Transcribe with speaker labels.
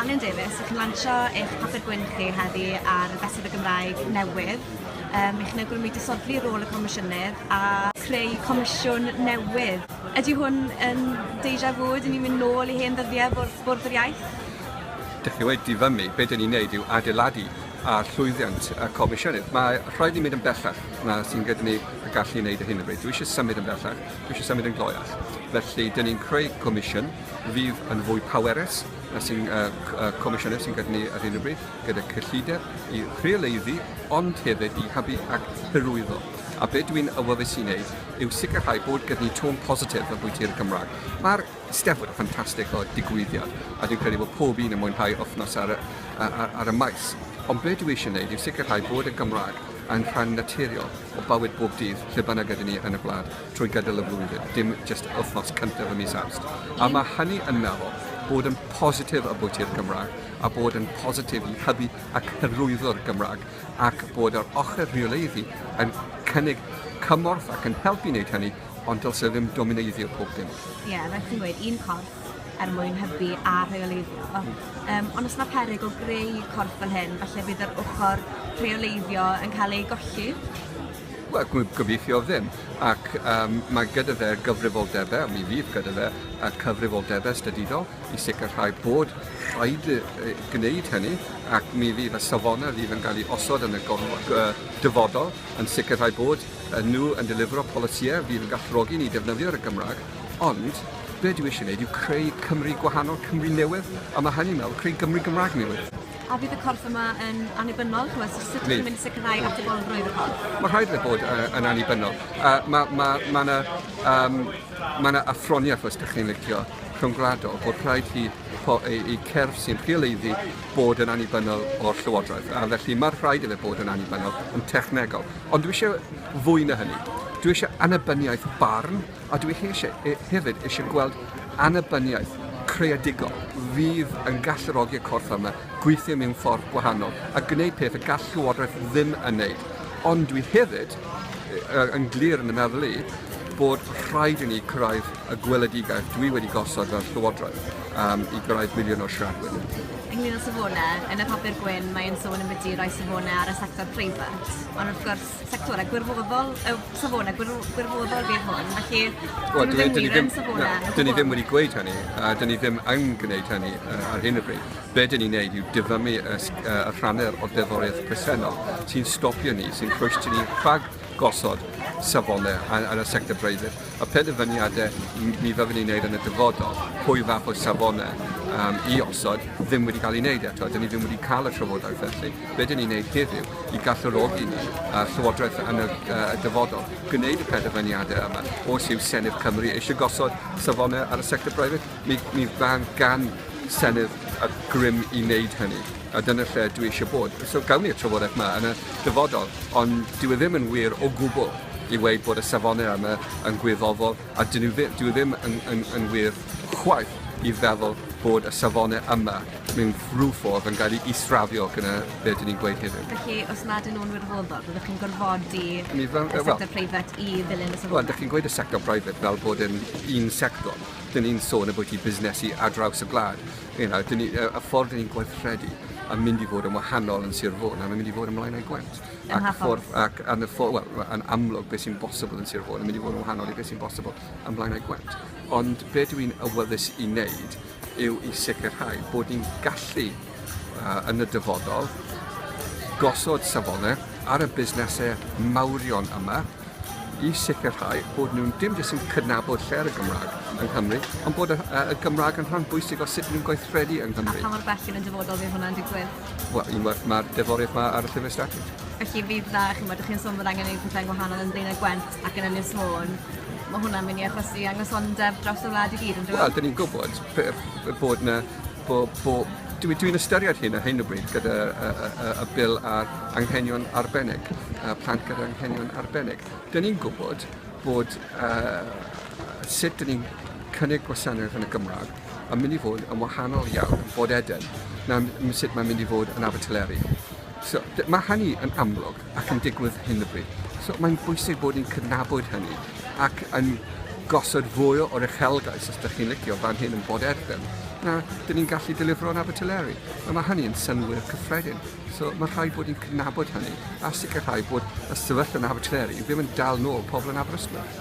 Speaker 1: Anwen Davies, chi'n lansio eich papur gwyn chi heddi ar y Fesul y Gymraeg newydd. Um, chi'n awgrymu disodli rôl y Comisiynedd a creu comisiwn newydd. Ydy hwn yn deja vu? Dyn ni'n mynd nôl i hen ddyddiau bwrdd yr iaith? Dych chi wedi dyfymu, be dyn ni'n neud yw adeiladu ar llwyddiant y Comisiynydd. Mae rhaid ni mynd yn bellach na sy'n gyda ni y gallu i wneud y hyn o bryd. Dwi eisiau symud yn bellach, dwi eisiau symud yn gloiach. Felly, dyn ni'n creu comisiwn fydd yn fwy powerus, sy'n Comisiynydd sy'n gyda ni ar hyn o bryd, gyda cyllideb i rheoleiddu, ond hefyd i hybu ac hyrwyddo. A be dwi'n awyddus i wneud yw sicrhau bod gyda ni tôn positif y bwyty i'r Cymraeg. Mae'r Steddfod yn ffantastig o digwyddiad, a dwi'n credu bod pob un yn mwynhau wythnos ar y, ar, ar y maes. Ond be dwi eisiau wneud yw sicrhau bod y Gymraeg yn rhan naturiol o bywyd bob dydd lle bynnag ydyn ni yn y wlad. trwy gydol y flwyddyn, dim jyst yr wythnos cyntaf ym mis Awst. A mae hynny yn meddwl bod yn positif y bwyty'r Gymraeg a bod yn positif i hybu ac hyrwyddo'r Gymraeg ac bod yr ochr rheoleiddi yn cynnig cymorth ac yn helpu wneud hynny ond dylse ddim domineiddio pob dim. Ie, yeah, rhaid chi'n gweud, un corff, corff er mwyn hybu a rheoleiddio. Yym ond os 'na peryg o greu corff fel hyn falle bydd yr ochor rheoleiddio yn cael ei golli? Wel gw- gobeithio ddim ac yym mae gyda fe gyfrifoldebe, mi fydd gyda fe y cyfrifoldebe statudol i sicrhau bod rhaid i- i- gwneud hynny ac mi fydd y safone fydd yn cael ei osod yn y gorf- g- yy dyfodol yn sicrhau bod yy nhw yn delifro polisïe fydd yn galluogi ni defnyddio'r y Gymraeg ond Be' dwi isie neud yw creu Cymru gwahanol, Cymru newydd, a ma' hynny'n meddwl creu Gymru Gymraeg newydd. A fydd y corff yma yn annibynnol? Ch'mod, so sut 'dych chi'n mynd i sicrhau atebolrwydd y corff? Mae rhaid iddo bod uh, yn annibynnol. Uh, mae ma, ma yna um, ma na athroniaeth, os ydych chi'n licio, rhyngwladol, bod rhaid i i cerf sy'n rheoleiddu bod yn annibynnol o'r llywodraeth. A felly mae'r rhaid iddo bod yn annibynnol yn technegol. Ond dwi eisiau fwy na hynny. Dwi eisiau annibyniaeth barn A dwi hefyd eisiau gweld annibyniaeth creadigol fydd yn galluogi'r corff yma gweithio mewn ffordd gwahanol a gwneud peth y gall Llywodraeth ddim yn wneud. Ond dwi hefyd yn glir yn y meddwl i bod rhaid i ni cyrraedd y gweledigaeth dwi wedi gosod fel Llywodraeth um, i gyrraedd miliwn o siaradwyr. Ynglyn â safonau, yn y papur gwyn mae'n sôn ambiti roi safonau ar y sector preifat, ond wrth gwrs sectorau gwirfoddol, uh, safonau gwir, gwirfoddol fydd hwn, felly well, dyn nhw ddim wir yn safonau. Dyn ni ddim wedi gweud hynny, a dyn ni ddim yn gwneud hynny uh, ar hyn o bryd. Be dyn ni'n neud yw dyfamu y, uh, y rhannau o'r deddoriaeth presennol sy'n stopio ni, sy'n croesio ni rhag gosod safonau yn y sector breiddydd. Y penderfyniadau ni fyddwn ni'n wneud yn y dyfodol, pwy fath o safonau um, i osod, ddim wedi cael ei wneud eto. Dyn ni ddim wedi cael y trafodaeth felly. Be dyn ni'n wneud heddiw i gallurogi ni uh, Llywodraeth yn y, uh, y dyfodol gwneud y penderfyniadau yma os yw Senedd Cymru eisiau gosod safonau ar y sector breifat? Mi mi ddaw gan Senedd y grym i wneud hynny, a dyna lle dwi eisiau bod. So gawn ni'r trafodaeth yma yn y dyfodol, ond dyw e ddim yn wir o gwbl i weud bod y safonau yma yn gwirfoddol, a dyn nhw ddim, dyw e ddim yn, yn, yn wir chwaith i feddwl bod y safonau yma mewn rhyw ffordd yn cael ei israfio gyda be dyn ni'n gweud heddiw. Felly, os nad yn nhw'n wirfoddol, byddwch chi'n gorfodi y sector preifat i ddilyn y safonau? Wel, dych chi'n gweud y sector preifat fel bod yn un sector. Dyn ni'n sôn ambwyty busnesu ar draws y gwlad. You know, dyn ni, y, y ffordd dyn ni'n gweithredu yn mynd i fod yn wahanol yn Sir Fôn, a mae'n mynd i fod yn Mlaenau Gwent. Yn Ac, hafod. ffordd, ac yn, y ffordd, well, yn amlwg beth sy'n bosibl yn Sir Fôn yn mynd i fod yn wahanol i beth sy'n bosibl yn Mlaenau Gwent. Ond be dw i'n awyddus i wneud yw i sicrhau bod ni'n gallu uh, yn y dyfodol gosod safonau ar y busnesau mawrion yma i sicrhau bod nhw'n dim jyst yn cydnabod lle ar y Gymraeg yng Nghymru, ond bod y, y Gymraeg yn rhan bwysig o sut ni'n gweithredu yng Nghymru. A pa mor bell yn y dyfodol fydd hwnna'n digwydd? Wel, unwaith mae'r deforiad mae ar y llyfr statud. Felly fydd dda, chi'n bod, chi'n sôn bod angen gwneud pethau'n gwahanol yn Blaenau Gwent ac yn Ynys Môn, mae hwnna'n mynd i achosi anghysondeb dros y wlad i gyd yn dweud? Wel, dyn ni'n gwybod bod yna Bo, bo, dwi, dwi'n ystyried hyn ar hyn o bryd gyda y, y, y, y bil ar anghenion arbennig, a plant gyda anghenion arbennig. Dyna ni'n gwybod bod uh, sut dyn ni'n cynnig gwasanaeth yn y Gymraeg yn mynd i fod yn wahanol iawn yn bod Eden na sut mae'n mynd i fod yn Abertyleri. So, mae hynny yn amlwg ac yn digwydd hyn o bryd. So, mae'n bwysig bod ni'n cydnabod hynny ac yn gosod fwy o'r uchelgais, os ydych chi'n licio, fan hyn yn bod erbyn, na dyn ni'n gallu delifro yn Abertyleri. A mae hynny yn synwyr cyffredin. So mae rhaid bod ni'n cydnabod hynny a sicrhau bod y sefyllfa yn Abertyleri ddim yn dal nôl pobl yn Aberystwyth.